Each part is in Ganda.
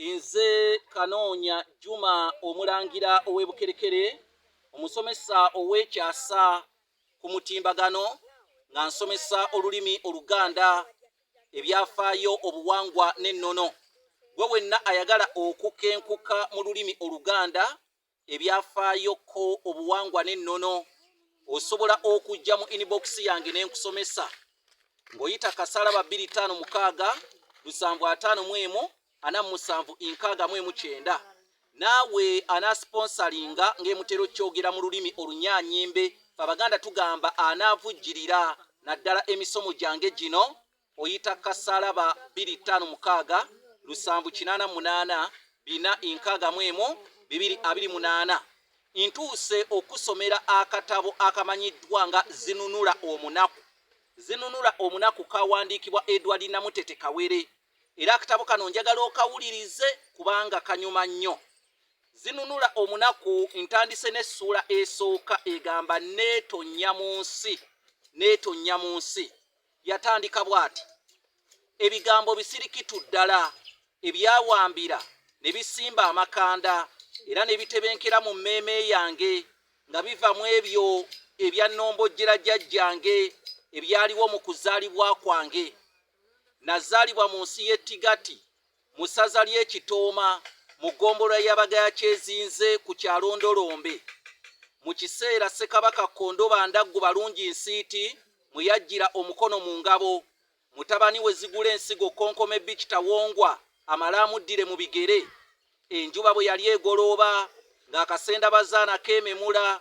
Nze Kanoonya Juma omulangira ow'e Bukerekere, omusomesa ow'ekyasa ku mutimbagano nga nsomesa olulimi Oluganda, ebyafaayo, obuwangwa n'ennono. Gwe wenna ayagala okukenkuka mu lulimi Oluganda ebyafaayo ko obuwangwa n'ennono osobola okujja mu inbox yange ne nkusomesa ng'oyita kasalaba 256 lusanvu ataano mu emu ana mu musanvu nkaaga mu emu kyenda naawe anasiponsalinga ng'emutera okyogera mu lulimi olunyanyimbe fe abaganda tugamba anaavujjirira naddala emisomo gyange gino oyita kasalaba biri ttaano mukaaga lusanvu kinaana munaana bina enkaaga mu emu bibiri abiri munaana ntuuse okusomera akatabo akamanyiddwa nga zinunula omunaku zinunula omunaku kawandiikibwa edward namutete kawere era akatabo kano njagala okawulirize kubanga kanyuma nnyo zinunula omunaku ntandise n'essuula esooka egamba neetonya mu nsi neetonya mu nsi yatandika bw'ati ebigambo bisirikitu ddala ebyawambira ne bisimba amakanda era ne bitebenkera mu mmeeme yange nga biva mu ebyo ebya nnombojjera jajjange ebyaliwo mu kuzaalibwa kwange nazaalibwa mu nsi y'ettigati mu ssaza ly'e Kitooma mu ggombolola ya Bagaya kyezinze ku kyalo Ndolombe mu kiseera Ssekabaka Kondoba Ndaggu Balungi Nsiiti mwe yajjira omukono mu ngabo mutabani we Zigula Ensigo Kkonkome Beach Tawongwa amale amuddire mu bigere enjuba bwe yali egolooba ng'akasenda bazaana keememula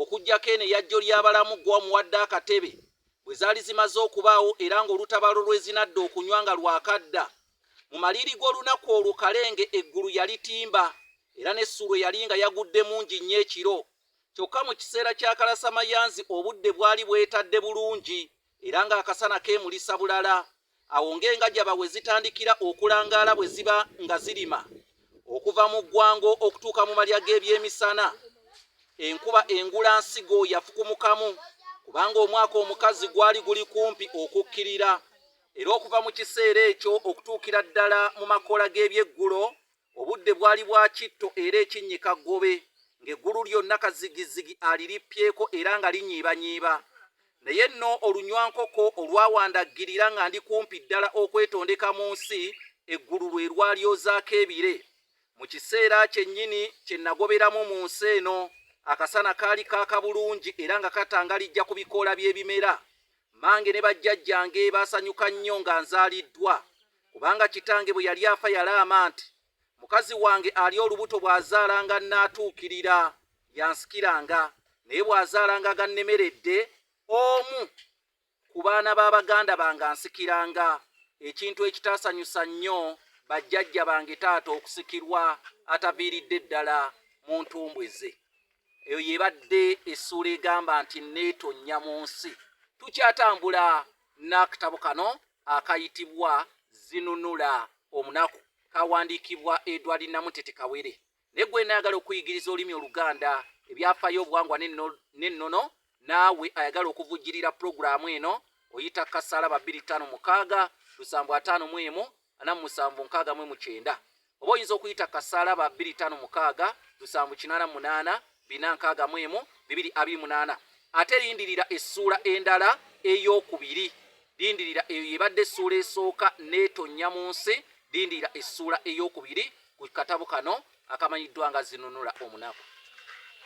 Okuggyako eno eya Jjolyabalamu ggwe omuwadde akatebe, bwe zaali zimaze okubaawo era ng'olutabaalo lw'ezinadda okunywa nga lwakadda. Mu maliiri g'olunaku olwo Kalenge eggulu yalitimba era ne Ssuulwe yali nga yagudde mungi nnyo ekiro. Kyokka mu kiseera kya kalasamayanzi obudde bwali bwetadde bulungi. era ng'akasana keemulisa bulala awo ng'engajaba we zitandikira okulangaala bwe ziba nga zirima okuva mu ggwango okutuuka mu malya g'ebyemisana enkuba engula nsigo yafukumukamu kubanga omwaka omukazi gwali guli kumpi okukkirira era okuva mu kiseera ekyo okutuukira ddala mu makoola g'ebyeggulo Obudde bwali bwa kitto era ekinnyika ggobe, ng'eggulu lyonna kazigizzigi alirippyeko era nga linyiibanyiiba. Naye nno olunywankoko olwawandaggirira nga ndi kumpi ddala okwetondeka mu nsi, eggulu lwe lwalyozaako ebire. Mu kiseera kyennyini kye nnagoberamu mu nsi eno, akasana kaali kaaka bulungi era nga katangalijja ku bikoola by'ebimera. Mmange ne bajjajjange baasanyuka nnyo nga nzaaliddwa. Kubanga kitange bwe yali afa yalaama nti, Mukazi wange ali olubuto bw'azaalanga annaatuukirira, y'ansikiranga, naye bw'azaalanga agannemeredde, omu ku baana ba baganda bange ansikiranga, ekintu ekitaasanyusa nnyo bajjajja bange taata okusikirwa ataviiridde ddala mu ntumbwe ze. Eyo y'ebadde essuula egamba nti Nneetonnya mu nsi. Tukyatambula n'akatabo kano akayitibwa zinunula omunaku kawandiikibwa edward namutete kawere naye gwe naagala okuyigiriza olulimi oluganda ebyafaayo obuwangwa n'ennono naawe ayagala okuvujjirira pulogulaamu eno oyita kasalaba 256 7 4 9 oba oyinza okuyita kasaala ba 25688462 ate lindirira essuula endala ey'okubiri lindirira eyo yebadde essuula esooka neetonnya mu nsi lindirira essuula ey'okubiri ku katabo kano akamanyiddwa nga zinunula omunaku